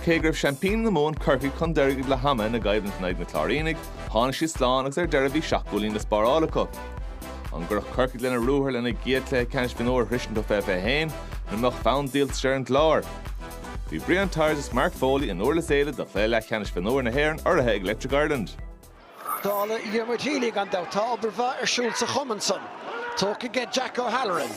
Cé go raibh seaimpíní na Mumhan curtha chun deirge le hamanna ina gcoimhlint in aghaidh na gCláiríneach, tháinig siad slán agus ar deireadh bhí seacht gcúilín le spáráil acu. An gcuirfeadh Corcaigh lena ruathar lena gcéad chluiche ceannais mhionúir a shroisint ó 2021 nó an mbeadh fonn díoltais ar an gClár? Bhí Brian Tyers agus Mark Foley i nDúrlas Éile do chluiche leathcheannais mhionúir na hÉireann urraithe ag Electric Ireland. Dála Dhiarmuid Healy, gan dabht, tá obair mhaith ar siúl sa chumann san. Tógtha ag Jack O'Halloran.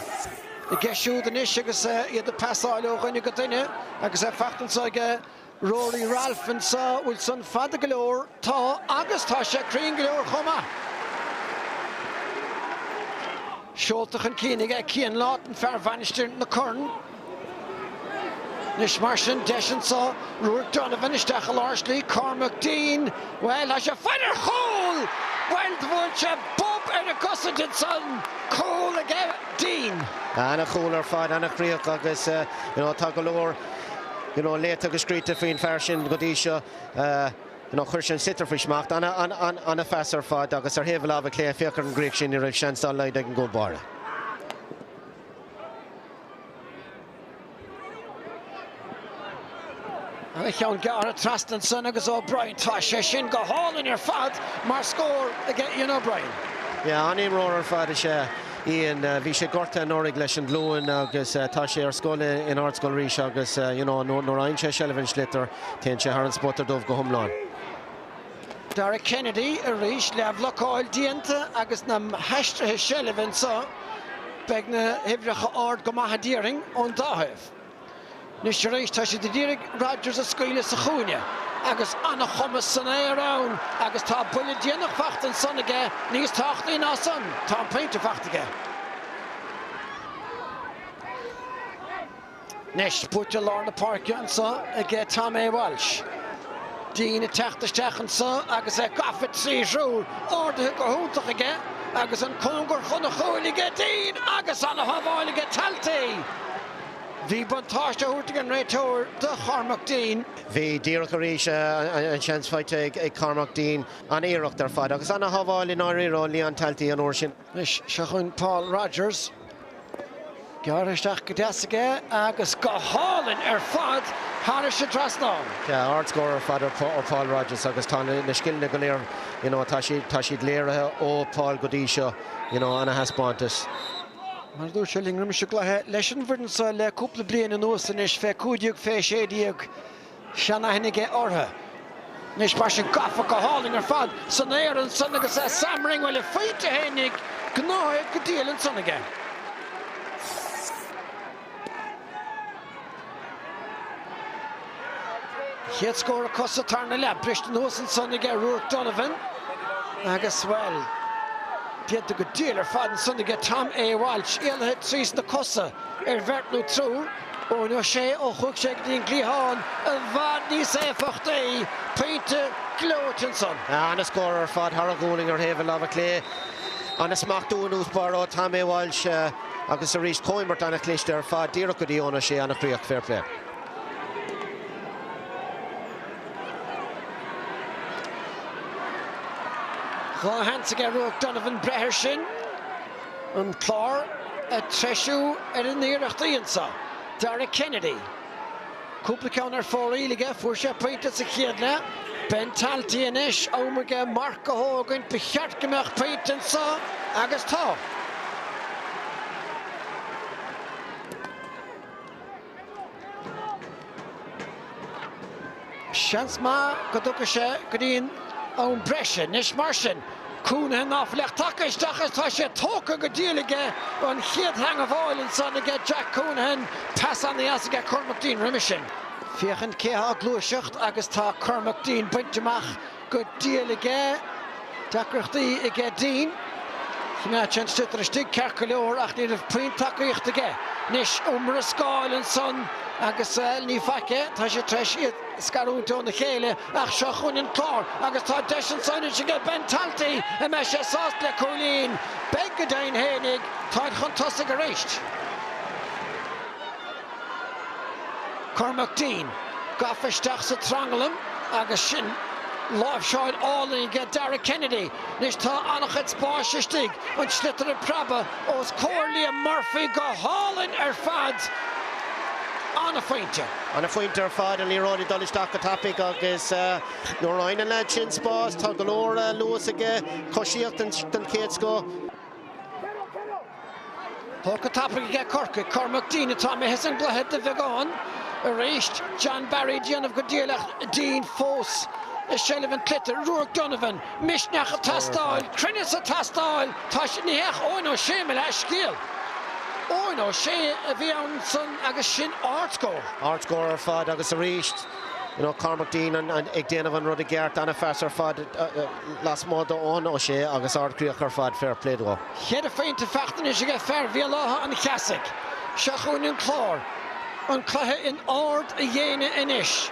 I gceist siúd anois agus iad ag pasáil ó dhuine go duine agus é fachta anso ag Rory Ralph anso, bhfuil san fada go leor? Tá, agus tá sé cruinn go leor chomh maith. Seolta chun cinn ag Cian Lawton, fear Mhainistir na Corann. Anois mar sin, deis anseo, Ruairí Donovan isteach i lár slí, Cormac Deane, bhuel, tá sé, ag fáil an chúl! Bhuel, bhuail sé bob ar an gcosaint ansan, cúl aige Deane. Ana chúl ar fad, ana chríoch agus you know tá go leor you know léite agus scríte faoin fear sin go dtí seo. You know chuir sé an sliotar faoi smacht, ana, ana, ana, ana phas ar fad agus ar thaobh a láimhe clé, féach ar an gcríoch sin, ní raibh seans dá laghad ag an gcúl báire. Ana-cheann gearrtha trasna ansan agus O'Brien, tá sé sin go hálainn ar fad mar scór aige Ian O'Brien. Yeah, an-imreoir ar fad is ea Ian. Bhí sé gortaithe anuraidh leis an ghlúin agus tá sé ar scoil in Ardscoil Rís agus nuair a fhaigheann sé seilbh ar an sliotar, téann sé thar an spota dubh go hiomlán. Dara Kennedy arís le blocáil déanta agus na haistrithe seilbhe anseo, beidh na huimhreacha ard go maith, a déarfainn, ón dá thaobh. Anois arís, tá siad ag iarraidh Rodgers a scaoileadh sa chúinne agus an-chumas san aer ann agus tá buille déanach fachta ansan aige níos tábhachtaí ná san, tá an pointe fachta aige. Anois buaite i lár na páirce anso aige Tom A. Walsh. Deane ag teacht isteach anso agus é gafa trí thriúr, ardaithe go hiontach aige agus an cóngar chun an chúil aige Deane agus ana shábháil aige Talty. Bhí buntáiste á thabhairt ag an réiteoir do Chormac Deane. Bhí díreach arís an seans faighte ag Cormac Deane. Ana iarracht ar fad agus ana shábháil i ndáiríre ó Leon Talty an uair sin. Anois seo chugainn Paul Rodgers. Gearrtha isteach go deas aige agus go hálainn ar fad thar an trasnán. Ardscór ar fad ó Paul Rodgers agus tá na scileanna go léir tá siad léirithe ó Paul go dtí seo ana thaispeántas. Mar a dúirt sé linn roimis an gcluiche, leis an bhfoireann seo le cúpla bliain anuas anois, fé 15 fé 16, seanaithne aige orthu. Anois mar sin gafa go hálainn ar fad san aer ansan agus Sam Ring bhuille faighte féinig gnóite go diail ansan aige. Chéad scór acu sa tarna leath briste anuas ansan aige Ruairc Donovan agus bhuel déanta go diail ar fad ansan aige Tom A. Walsh. Éalaithe trí sna cosa ar bheirt nó triúr. Eoin Ó Sé ó chuaigh sé go dtí an gcliathán i bhfad níos éifeachtaí pointe gleoite ansan. Ana scór ar fad thar a ghualainn ar thaobh an lámha clé. Ana smachtú i dtús báire ó Tom A. Walsh agus arís comhiomairt ana chliste ar fad díreach go dtí Eoin Ó Sé. Ana chríoch. Fair play. Dhá sheans aige Ruairc Donovan breith air sin. an Chláir ag treisiú ar a n-iarrachtaí anseo. Dara Kennedy, cúpla ceann ar fóraoil aige, fuair sé pointe sa chéad leath. Ben Talty anois, am aige marc a thógaint, ba cheart go mbeadh pointe anseo agus tá. Seans maith go dtiocfaidh sé go dtí an am breise anois mar sin. Counihan ná fliuch taca isteach is tá sé tógtha go diail aige an chéad theangmháil ansan aige Jack Counihan, pas ana dheas aige Cormac Deane roimis sin. Féachaint cé tá ag gluaiseacht agus tá Cormac Deane bainte amach. go diail aige. Deacrachtaí aige Deane. Choimeád sé an sliotar istigh ceart go leor ach ní raibh puinn tacaíochta aige. Anois iomrascáil ansan agus ní faic é, tá sé tar éis iad a scarúint óna chéile ach seo chugainn an Clár agus tá deis ansan anois aige Ben Talty, an mbeidh sé sásta le cúilín? Beidh, go deimhin féinig, táid chun tosaigh arís. Cormac Deane gafa isteach sa tranglam agus sin láimhseáil álainn aige Dara Kennedy. Anois tá an-chuid spáis istigh, an sliotar ag preabadh os comhair Liam Murphy go hálainn ar fad. An-phointe. An-phointe ar fad, an liathróid ag dul isteach go tapaidh agus nuair a fhaigheann an leaid sin spás, tá go leor luas aige, coisíocht den chéad scoth. Tógtha tapaidh aige Corcaigh, Cormac Deane atá imithe as an gcluiche de bheagán arís, John Barry ag déanamh go diail ach Deane fós i seilbh an tsliotair, Ruairc Donovan, misneach ag teastáil, cruinneas ag teastáil, tá sé ní hea Eoin Ó Sé mo leathscéal, Eoin Ó Sé a bhí ann san agus sin ard scór. Ard scór ar fad agus arís Cormac Deane ag déanamh an rud i gceart, ana-phas ar fad lasmuigh d'Eoin Ó Sé agus ard-chríoch ar fad, fair play dó. Ceithre phointe feachtanais aige fear Bhéal Átha an Cheasaigh. Seo chugainn an Clár. An cluiche in ard a dhéine anois.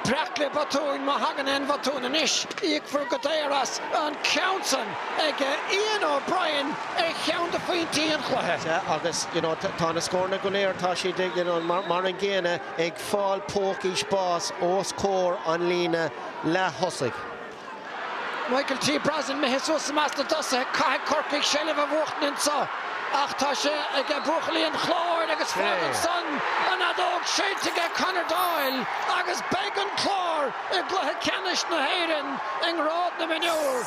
Breac le botún, má thagann aon bhotún anois, íocfar go daor as. An ceann san ag Ian O'Brien ar cheann de phointí an chluiche. Sea, agus tá na scóranna go léir, tá siad mar an gcéanna, ag fáil pócaí spáis os comhair an líne leath-thosaigh. Michael T. Brosnan, Mithid suas i measc na dtosaithe, caithfidh Corcaigh seilbh a bhuachtaint anseo ach tá sé ag buachaillí an Chláir agus fágann san an fheadóg séidte ag Conor Doyle agus beidh an Clár i gcluiche ceannais na hÉireann i ngrád na mionúr.